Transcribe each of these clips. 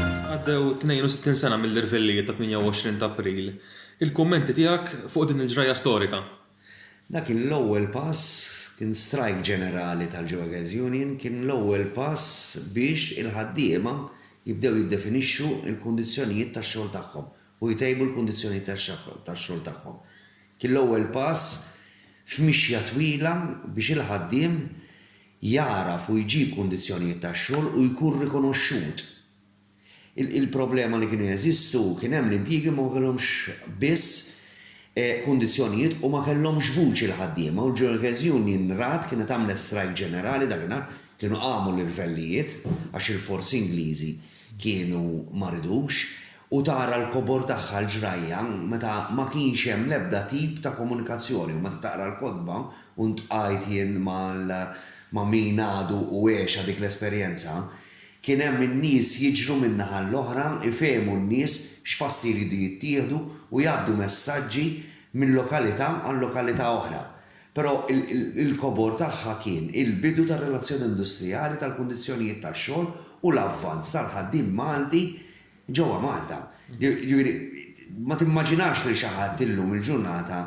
Issa għaddew 62 sena mill-irvellijiet tat-28 ta' April. Il-kummenti tiegħek fuq din il-ġrajja storika? Dak kien l-ewwel pass, kien strajk ġenerali tal-Jewagers Union, kien l-ewwel pass biex il-ħaddiema jibdew jiddefinixxu l-kundizzjonijiet tax-xogħol tagħhom u jtejbu l-kundizzjonijiet tax-xogħol tagħhom. Kien l-ewwel pass f'mixja twila biex il-ħaddiem jagħraf u jġib kundizzjonijiet tax-xogħol u jkun rikonoxxut. Il-problema li kienu jeżistu kien hemm l-impjiegi ma kellhomx biss kundizzjonijiet u ma kellhomx vuċi l-ħaddiema u l-Ġurkers Union rat kienet għamlet strajk ġenerali dakinhar, kienu qamu l-irvellijiet għax il-forzi Ingliżi kienu ma ridux, u tara l-kobor tagħha l-ġrajja meta ma kienx hemm l-ebda tip ta' komunikazzjoni u meta taqra l-kotba u ntqajt jien mal ma' min għadu u għexha dik l-esperjenza, kien hemm in-nies jiġru min-naħa l-oħra jfehmu n-nies x'passi jridu jittieħdu u jgħaddu messaġġi minn lokalità għal lokalità oħra. Però il-kobor tagħha kien il-bidu tar-relazzjoni industrijali tal-kundizzjonijiet tax-xogħol u l-avvanz tal-ħaddiem Malti ġewwa Malta. Jiġifieri, ma timmaġinax lil xi ħadd illum il-ġurnata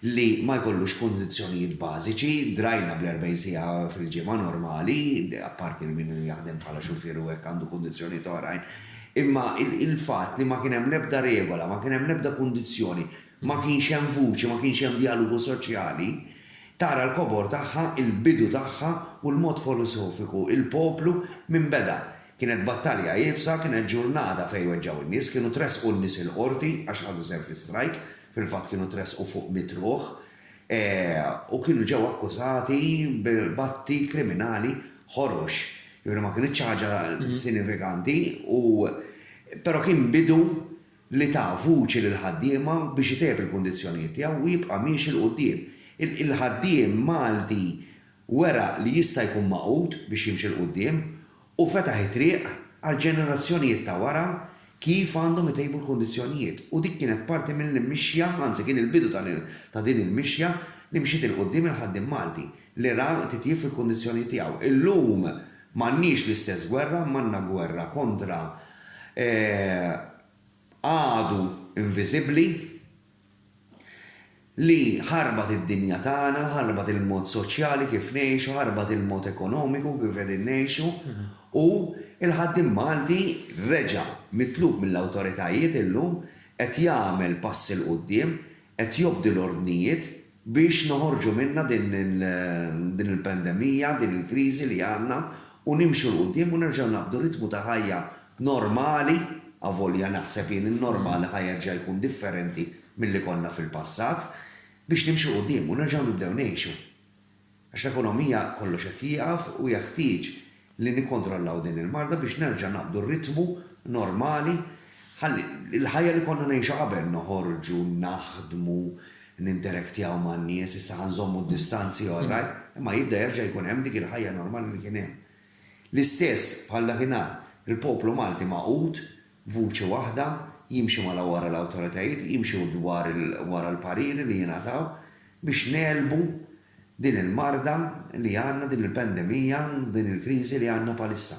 li ma jkollux kundizzjonijiet bażiċi, drajna bl-40 siegħa fil-ġimgħa normali, apparti li min jaħdem bħala xufier u hekk għandu kundizzjonijiet oħrajn, imma il-fatt li ma kien hemm l-ebda regola, ma kien hemm l-ebda kundizzjoni, Ma kienx hemm vuċi, ma kienx hemm djalogu soċjali. Tara l-kobor tagħha, il-bidu tagħha u l-mod folosofiku, il-poplu minn beda. Kienet battalja iebsa, kienet ġurnata fejn weġġgħu in-nies, kienu tressqu n-nies il-Qorti għax ħadu sehem fi strajk, fil-fatt kienu tressqu fuq mitt ruħ, u kienu ġew akkużati b'atti kriminali ħorox. Jiġifieri ma kinitx ħaġa sinifikanti u però kien bidu. li ta vuċi lill-ħaddiema biex itejjeb il-kundizzjonijiet tiegħu u jibqa' miexi 'l quddiem. Il-ħaddiem Malti wera li jista' jkun magħqud biex jimxi 'l quddiem u fetaħ it-triq għall-ġenerazzjonijiet ta' wara kif għandhom itejbu l-kundizzjonijiet u dik kienet parti mill-mixja, anzi kien il-bidu ta' din il-mixja li mxiet 'il quddiem il-ħaddiem Malti. L-Iran titjieb fil-kundizzjonijiet tiegħu. Illum m'għandniex l-istess gwerra, imma għandna gwerra kontra għadu inviżibbli li ħarbat id-dinja tagħna, ħarbat il-mod soċjali kif ngħixu, ħarbat il-mod ekonomiku kif qegħdin ngħixu u l-ħaddiem Malti reġa' mitlub mill-awtoritajiet illum qed jagħmel passi 'l quddiem, qed jobdi l-ordnijiet, biex noħorġu minnha din il-pandemija, din il-kriżi li għandna u nimxu 'l quddiem u nerġgħu naqbdu ritmu ta' ħajja normali, avolja naħseb jien in-normali ħa jerġa' jkun differenti milli konna fil-passat, biex nimxu 'l quddiem u nerġgħu nibdew ngħixu. Għax l-ekonomija kollox qed jieqaf u jeħtieġ li nikkontrollaw din il-marda biex nerġa' naqbdu r-ritmu normali ħalli l-ħajja li konna ngħixu qabel, noħorġu, naħdmu, ninterektjaw man-nies, issa ħa nżommu d-distanzi all right, imma jibda jerġa' jkun hemm dik il-ħajja normali li kien hemm. L-istess bħal dakinhar, il-poplu Malti magħqud, Vuċi waħda, jimxi mala wara l-awtoritajiet, jimxi wara l-pariri li jingħataw biex negħlbu din il-marda li għandna, din il-pandemija, din il-kriżi li għandna bħalissa.